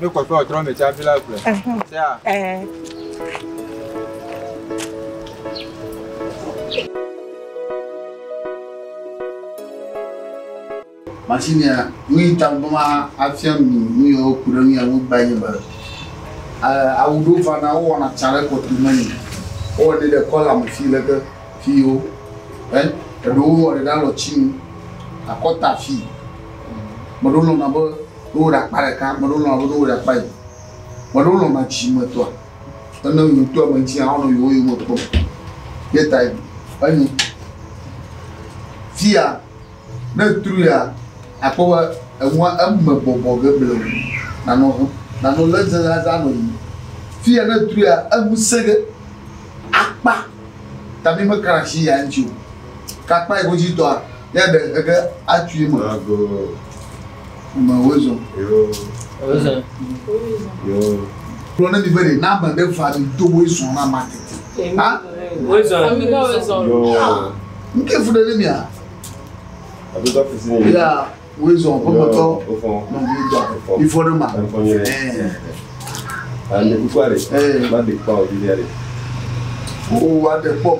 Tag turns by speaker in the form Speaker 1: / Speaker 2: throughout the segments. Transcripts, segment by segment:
Speaker 1: Ne
Speaker 2: kɔkɔ ɔtrɔ me tsa bila gbe. Tsa.
Speaker 3: Masinia, nu yi ta bɔ ma afia mi nu yi woku ɖe nu ya ŋu gba yi be awu ɖewo va na wowɔna tsa ɖe kɔtu me ni wowɔnɛ ɖe kɔla me fi leke fi wo eɖewo wɔ ɖe ɖe alɔtinu akɔta fi meɖewo lɔna be Ne wowɔ ɖe akpa ɖeka, ame aɖewo lɔ̃na be ne wowɔ ɖe akpa eve. Ame aɖewo lɔ̃na dzidzimetɔa. Ene yewo ŋutɔ ame ŋuti hã wonɔ yewo yome kpɔm. Ye tae enyo. Fiya ne ètrui la, àkpɔ be enua eme bɔbɔ ge bleŋ. Nanɔ hem, nanɔ lé zã zã zã nɔ yiyim. Fiya ne ètrui la, enu sẽ ge. Akpa ta mi me kana asi ya ŋuti o. Ke akpa yi ke wodzi tɔa, ya ɖe eke ge atui eme. Ame wozɔ. Yo. Wozɔ. Yo. Kplɔ ne mi be ɖe na ame ɖe va mi do wo zɔ na ma tete. Ha? Wozɔ. Ame
Speaker 4: ka wozɔ. Yo. Nke fu
Speaker 3: ɖe ne mia. Abe
Speaker 4: ka fu si ne. Ya wozɔ
Speaker 3: ƒe mɔtɔ. Wofɔ. Nɔ mi dɔ.
Speaker 4: Ifɔ ɖe
Speaker 3: ma. Ifɔ
Speaker 4: nyere. Ɛɛ. Ame kukua ɖe. Ɛɛ. Ma de kpa o bi ɖe.
Speaker 3: O wa de kpɔ.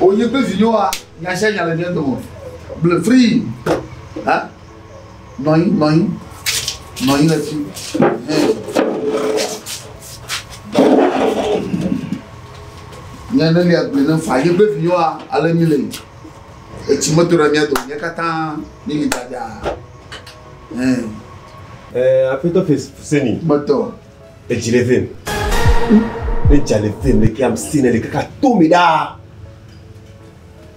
Speaker 3: O nye pe vi yo wa. Nya sia nya le nye dɔmɔ. Ble free. Ha? Nɔnyi, nɔnyi, nɔnyi ɖe fi. Nye ne lia gbe ne fa ye be viwa ale mi le. Etsi me to ɖe mia dome nye katã mi li dada. Ɛɛ.
Speaker 5: Ɛɛ afetɔ Fuseni. Gbetɔ.
Speaker 3: Edzi le vem.
Speaker 5: Ne dza le vem le ke am si ne le kaka to mi ɖaa.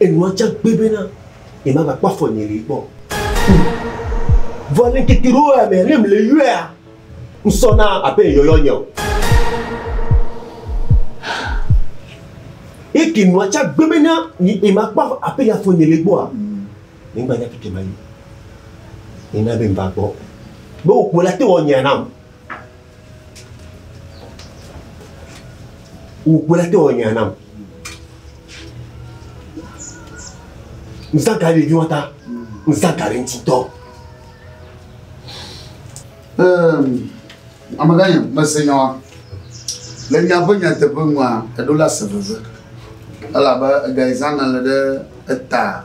Speaker 5: Enua tsa gbé bena ye ma va kpɔ afɔ nye li gbɔ. Vɔ le ŋkeke ɖewo ya mea, ne mi le yɔea, ŋ sɔ na abe ye yɔyɔ nye o. Ye ke nua tsa gbé bena ye ma kpɔ abe ye afɔ nye li gbɔa, mi gba nya fi ke ma yi. Ye na be ŋ va gbɔ. Be wò kpo la te wɔ nyea nam. Wògblɔ te wɔ nya nam. Nsa gari ɖeviwo ta, nsa gari ŋuti dɔ.
Speaker 3: Amegã yam, mese nya wa. Le nya ƒe nyateƒe nua, eɖo la se veve. Elabe ega yi zã na le ɖe eta.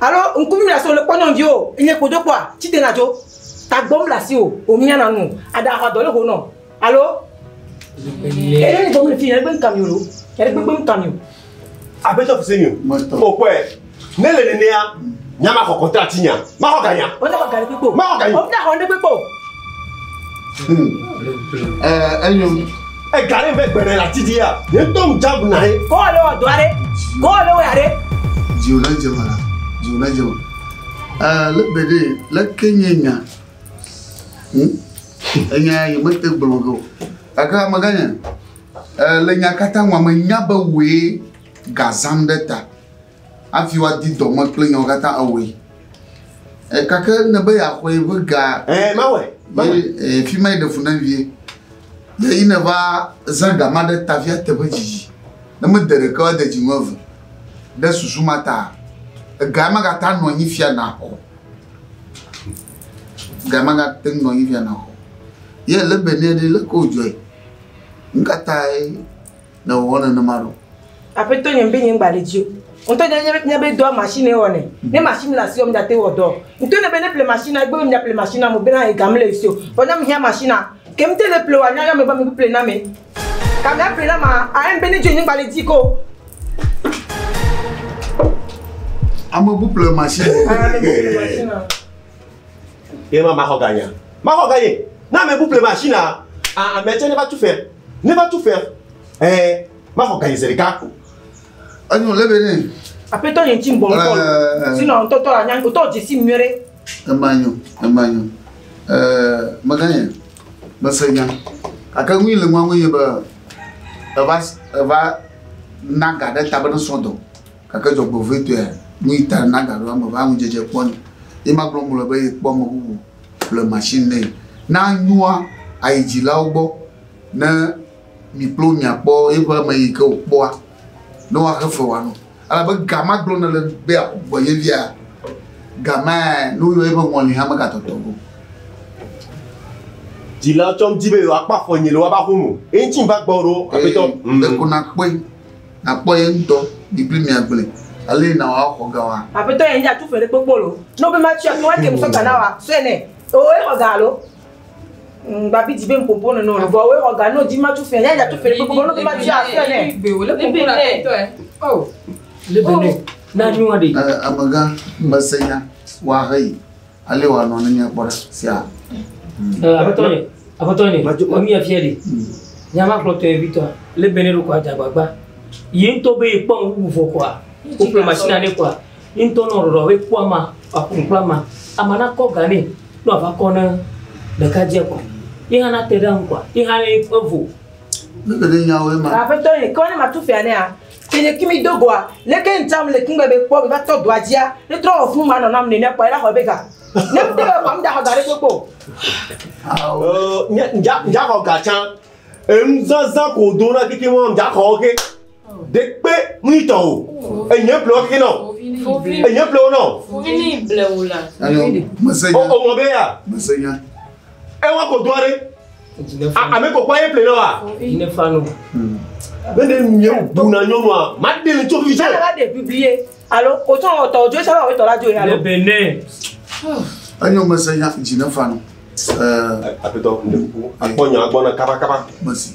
Speaker 1: Alo ŋku mí le asi o le kpɔ nyɔnuvi o enye kpo do kpɔa tsi dena dzo tagbɔ mí le asi o o mía na nu aɖa axa dɔ le ho nɔ alo ele ni gbɔmi le fi yɛn gbe ŋka mi o yɛn gbe gbe ŋka mi o. Abetɔ
Speaker 5: fi se mi o o kpɔɛ ne le nenea nya ma xɔ kɔntra ti nya ma xɔ ganya. O na xɔ gani kpekpe o ma xɔ
Speaker 1: gani o na xɔ ne
Speaker 5: kpekpe o.
Speaker 3: Ɛɛ enyo. Ega ɖe
Speaker 5: ƒe gbere la ti di ya. Ye ŋutɔ ŋu dza bu na ye. Kɔ le wɔ dɔa ɖe.
Speaker 1: Kɔ le wɔ ya ɖe. Dziwò na dze
Speaker 3: wala. Dziwò na dze wò. Ɛɛ le be ɖe le ke nye nya. Hm? Enya ye me te gblɔ ge o. Gake amegã nye. Ɛɛ le nya katã ŋua me nya be wòe gazan ɖe ta. Hafi woadi dɔ me kple nyawo katã awɔe. E, gake ne be yeaxɔe ƒe ga. Ɛ, mawɔe. Mawɔe. Ɛ, fi ma ɖe fu na vie. Ye yi ne va zã ga ma ɖe ta fia teƒe dzidzi. Ne mede ɖeke ade dzinu eve. Ɖe susu ma ta, ega ya magata nɔ anyi fia naxɔ. Ga magate nɔ anyi fia naxɔ. Ye le be ne ɖe le ko dzɔe. Nu ka tae? ne wòwɔ nenema ɖo. Aƒetɔ nye be
Speaker 1: nye ŋgba le dzi o. Ŋutɔ nye nye nye be dɔa machine wɔ ne. Ne machine le asi wɔ mdate wɔ dɔ. Ŋutɔ ne be ne ple machine egbe be mdza ple machine mo be na he ga mle si o. Vɔ ne mhia machine ke mte le ple wa nya yɔme be me ple na me. Ka mea ple na ma a em be ne dzi nye ŋgba le dzi ko.
Speaker 3: Ame bu ple machine. Ame bu ple machine.
Speaker 5: Ye ma maxɔ ganya. Maxɔ ganye. Na ame bu plema shi na ame tse ne va tu fɛ. Ne va tu fɛ. Eh, maxɔ ganye se ɖeka ko. Anyo
Speaker 3: le be ne. Aƒetɔ nye ŋti ŋbɔ
Speaker 1: ŋkɔ. Eh. Sino ŋtɔtɔ anya ŋtɔ dzesi nyuie ɖe. Ema nyo,
Speaker 3: ema nyo. Eh, meganye. Mese nya. Ake ŋui le ŋua ŋue nye be eva eva na ga ɖe ta be ne srɔ̃ dɔ. Gake dzɔgbevɔ̃etɔe nyi ta nagaɖo ame ƒe aŋudzedze kpɔ nɛ. Ye magblɔ mele be yekpɔ ame bubu ƒle machine nɛ. Ne anyua, ayi dzilawo gbɔ ne mi kple wo miakpɔ yeƒe ame yi ke wòkpɔa, ne woaxe fe wòano. Elabe ga ma gblɔm nèle be yeaku gbɔ ye via? Gamea ne woyɔ yeƒe ŋɔli hã megatɔtɔ go.
Speaker 5: Dzilawo tsɔm di be yewoakpɔ afɔ nye le woƒe aƒe me o. Eŋuti va gbɔwò ɖo, Aƒetɔ. Ee, ɖeko nàkpɔe.
Speaker 3: nakpɔ ye ŋutɔ bibli mia gblɔe ale yi na wa xɔ ga wa. Aƒetɔ yɛ nye atu ƒe ɖe
Speaker 1: kpokpo lo. No be ma tsuɛ wa kem sɔ ga na wa sɔɛ nɛ. Eo ye xɔ ga alo? Ŋ gba bi di be ŋ popo nɔ nɔ vɔ oe xɔ ga no di ma tsu fɛ nye atu ƒe ɖe kpokpo no be ma tsuɛ sɔɛ nɛ. Libe o le popo na aƒetɔ ɛ. Oh. Libe nɛ. Na nyua ɖe. Ɛ amegã
Speaker 3: me se nya wa he yi. Ale wòanɔ ne míakpɔ ɖa. Sia. Aƒetɔ nye,
Speaker 6: aƒetɔ nye, emi afia ɖi. Nya ma kplɔtɔ ye vitɔa, le bene ɖo kɔa dzagbagba. Yi ŋutɔ be yekpɔ ŋu wu vɔ kɔa, wokplɔ machine ne kɔa, yi ŋutɔ nɔ ɖɔɖɔ be kpɔ ama, wòaƒo nu kple ama. Ama nakɔ ga nɛ, ne wòava kɔ ne ɖekadzea kɔa, ye hã nate ɖe eŋu kɔa, ye hã evo. Mí ke ɖe
Speaker 3: nyawoe ma. Aƒetɔ nye, ke wɔ ne matu fia
Speaker 1: nɛa? Ke nye kimi do goa, leke ŋta mle kingbe be kpɔ meva tɔ doa dzia, ne trɔ wɔ fun ma nɔ nam ne mia kpɔe la xɔe be ga. Ne ŋte be kpɔ mda xɔ ga ɖe kpokpo. Oh, nye
Speaker 5: mja mja xɔ ga tsa. Enu zazã ko do na kiki mɔ mja xɔ wo ke. De kpe mli tɔ o. Enye ble wo ke nɔ. Enye ble wo nɔ. Fuvini ble wo la.
Speaker 7: Alo, mese nya. O,
Speaker 3: o mɔ be ya.
Speaker 5: Mese nya.
Speaker 3: Ewa
Speaker 5: ko doa ɖe. Ame kɔkɔ ye ple wa. Yi ne fa no.
Speaker 6: Ne ne
Speaker 5: nu ye bu na nyɔnu a, ma de le tso fi se. Ala de bibi ye.
Speaker 1: Alo o tso o tɔ o jo sa ba o tɔ la jo ye alo. Ne bene.
Speaker 3: Anyo me se ya ji ne fa no. Eh,
Speaker 5: apetɔ. Akpɔ nya gbɔ na kaba kaba. Merci.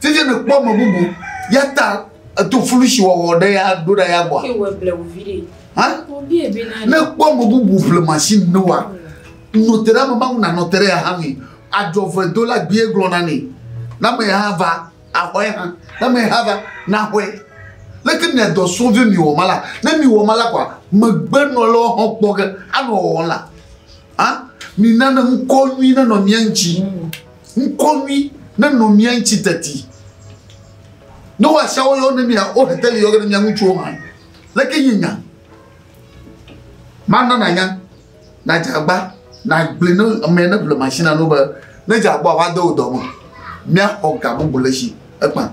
Speaker 3: Tete ne kpɔ me bubu ya ta eto fulu si wɔwɔ ɖe ya ɖo ɖe ya gbɔ. Ne
Speaker 7: kpɔ me bubu
Speaker 3: ƒle machine ne wa nɔte ɖe ameba ŋu nanɔte ɖe ya hã mi adzɔve do la gbie gblɔ na ne na me ya va axɔe hã na me ya va na xɔe leke mi adɔ sɔn vi mi wɔ ma la ne mi wɔ ma la kɔ megbe nɔ le wɔxɔ kpɔ ge anɔ wɔwɔ la. Ah, mi nane ŋkɔ nyui ne nɔ mia ŋuti. Ŋkɔnui nenɔ mía ŋuti teti. Ne woasiawo yɔ ne mia, wo hete li yɔ ne mia ŋutsuwo hã. Leke yi nya? Mana nanya, nadze agba, nagblẽ ne ame ne ble machine no be ne dze agba va de wò dɔ me. Mía xɔ ga bubu le si ekpa.